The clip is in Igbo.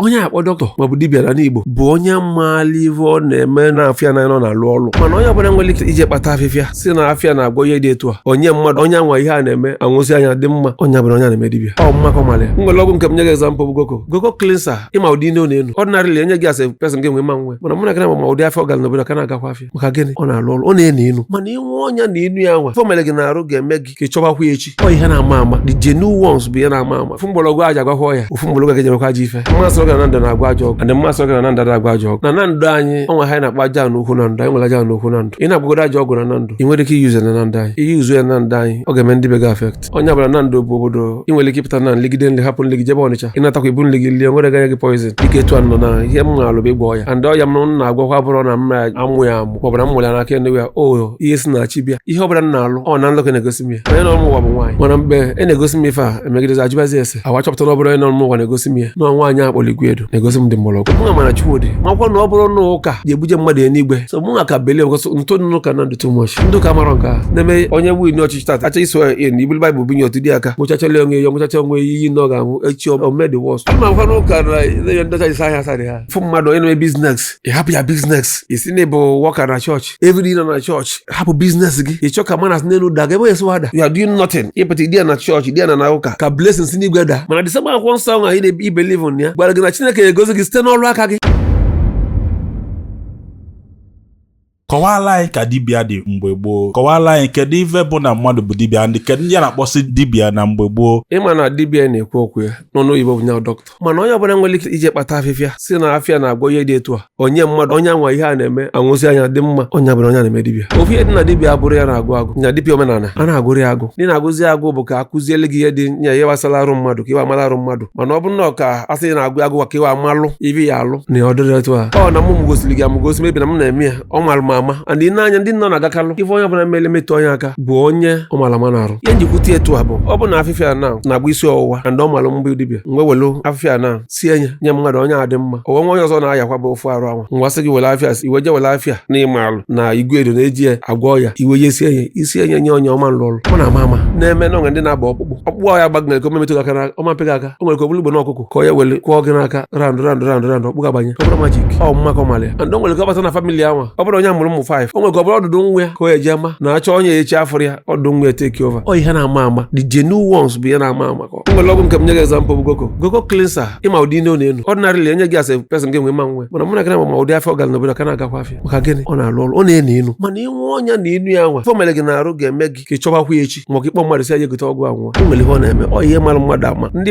onye akpọ dọkịta maọbụ dibịa n'ani Igbo bụ onye maala ife ọ na-eme na afịa na nọ na-alụ ọlụ mana onye ọbụla nwere ike ije kpata afịfịa sị na afịa na-agwọ ihe dị etu a o nye mmadụ onye anwa ihe a na-eme anwụsịa nya adị mma onye abụrọ onye na-eme dibịa ọ mma ka ọ mara ya o nwere ọgwụ nke m nye gị example bụ goko goko cleanser ị ma ụdị inu ọ na-enu ordinarily e nye gị as a person gị nwa ị ma ṅụ ya mana mụ na gị na ma ụdị afịa ọ gara n'obodo ka na-agakwa afịa maka gịnị ọ na-alụ ọlụ ọ na-enu inu mana ị ṅụọ nya na inu ya anwa ife o mere gị na arụ ga-eme gị ka ị chọbakwa ya echi ọ ihe na-ama ama the genuine ones bụ ihe na-ama ama ofu mgbọrọgwụ e ji agwọkwa ọya ofu mgbọrọgwụ a ga-eji emekwa ajọ ife m asịrọ gị na Nando na-agwọ ajọ ọgwụ and m asịrọ gị na Nando adị agwọ ajọ ọgwụ na Nando anyị o nwe ihe a na-akpọ Ajana Ukwu Nando anyị nwere Ajana Ukwu Nando ị na-agwọgodu ajọ ọgwụ na Nando ị nwerọ ike i use ya na Nando anyị i use ya na Nando anyị ọ ga-eme ndị be gị affect onye ọbụla Nando bụ obodo ị nwere ike ịpụta na-eligide nli hapụ nli gị jebe Ọnịcha ị natakwa i bu nli gị lie nwerọ ga-enye gị poison dịka etu a nọ na ihe m na-alụ bụ ịgwọ ọya and ọya m na-agwọkwa abụrọ na m na-amụ ya amụ maọbụ na m nwere n'aka ndị ya ọ ihe si na chi bịa ihe ọbụla m na-alụ ọ na nlọ ka a na-egosi m ya onye nọ n'ụwa bụ nwaanyị mana mgbe e na-egosi m ife a emegidezi ajụbazi ese e wee chọpụta na ọ bụrọ onye nọ n'ụwa na-egosi m ya na nwaanyị a kpọrọ Iguedo na-egosi m ụdị mgbọrọgwụ mụ ma na Chukwu dị makwa na ọ bụrọ na ụka ga-ebuje mmadụ enigwe so mụ nwa ka believe gosi ntụ n'ụka na ndụ too much ndị ụka marọ nke ha na-eme onye win ọchịchị tata achọ ị swear in ya e bulu baịbụl bunye otu dị aka ṅụchachara onwe ya ṅụchacha onwe ya iyi na ọ ga-anwụ echi o me the worst ama makwa na ụka na ndị ọcha isi ahịa sarị ha fụ mmadụ onye na-eme business ị hapụ ya business ị sị na ị bụ worker na chọọchị everyday ị nọ na chọọchị hapụ business gị ị chọ ka manna si n'enu da gị ebe esi wada you are doing nothing ị pụta ịdị ya na chọọchị ịdị ya na na ụka ka blessing si n'igwe daa mana the same akwụkwọ nsọ ahụ anyị na-ebelieve na ya gwara gị na chineke ga-egozi gị site n'ọlụ aka gị kọwala anyị ka dibịa dị mgbe gboo kọwala anyị kedu ife bụ na mmadụ bụ dibịa ndị kedu ndị a na-akpọsị dibịa na mgbe gboo ị ma na dibịa a na-ekwu okwu ya n'ọnụ oyibo bụ nya bụ dọkịta mana onye ọbụla nwere ike ije kpata afịfịa sị na afịa na-agwọ ihe dị etu a o nye mmadụ onye anwa ihe a na-eme anwụsịa nya adị mma onye abụrọ onye na-eme dibịa ofu ihe dị na dibịa abụrọ ihe a na-agụ agụ nya dibịa omenala a na-agụrọ ya agụ ndị na-agụzi agụ bụ ka a kuziele gị ihe dị nya ihe gbasara arụ mmadụ ka i wee mara arụ mmadụ mana ọ bụrọ na ọ ka a sị na-agụ agụ ka i wee malụ ife ị ya-alụ na ọ dịrọ otu a ọ na mụ m gosiri gị amụgosi mebi na m na-eme ya ọ malụ m ama and i nee anya ndị nọ na-agakalụ ife onye ọbụla mere metụ onye aka bụ onye ọ mara ama na-arụ ihe m ji kwute etu a bụ ọ bụ na afịfịa na na-agwọ isi ọwụwa and ọ malụ m bụ dibịa m wee welu afịfịa na sie nye nye mmadụ onye adị mma o nwe nwa onye ọzọ na-ayakwa bụ ofu arụ anwa m gwa sị gị were afịa i wee je were afịa na ị malụ na Iguedo na-eji ya agwọ ọya i were ya sie nye isi enye nye onye ọ ma alụ ọlụ ọ na-ama ama na-eme na o nwe ndị na-agba ọkpụkpụ ọkpụkpụ ahụ ya agbaa gị o nwere ka ọ ma-emetụ gị aka na ọ ma pị gị aka o nwere ka ọ bụlụ ugbene ọkụkụ ka ọ ya-ewele kwụọ gị n'aka round round round round ọkpụ ga-abanye ọ bụrọ magic ọ mma ka ọ mara ya and o nwere ka ọ bata na family anwa ọ bụrụ onye mụrụ ụmụ five o nwere ka ọ bụrụ ọdụdụ nwa ya ka o eji ama na achọ onye ya echi afụrọ ya ọdụdụ nwa ya take over ọ ihe na-ama ama the genuine ones bụ ihe na-ama ama ka o nwere ọgwụ nke m nye gị example bụ goko goko cleanser ị ma ụdị inu ọ na-enu ordinarily e nye gị as a person gị nwa ị ma ṅụ ya mana mụ na gị na ma ụdị afịa ọ gara n'obodo ka na-agakwa afịa maka gịnị ọ na-alụ ọlụ ọ na-enu inu mana ị ṅụọ nya na inu ya anwa ife o mere gị na arụ ga-eme gị ka ị chọbakwa ya echi ma ọ ka ị kpọ mmadụ sị ya gote ọgwụ a ṅụọ o nwere ihe ọ na-eme ọ ihe mara mmadụ ama ndị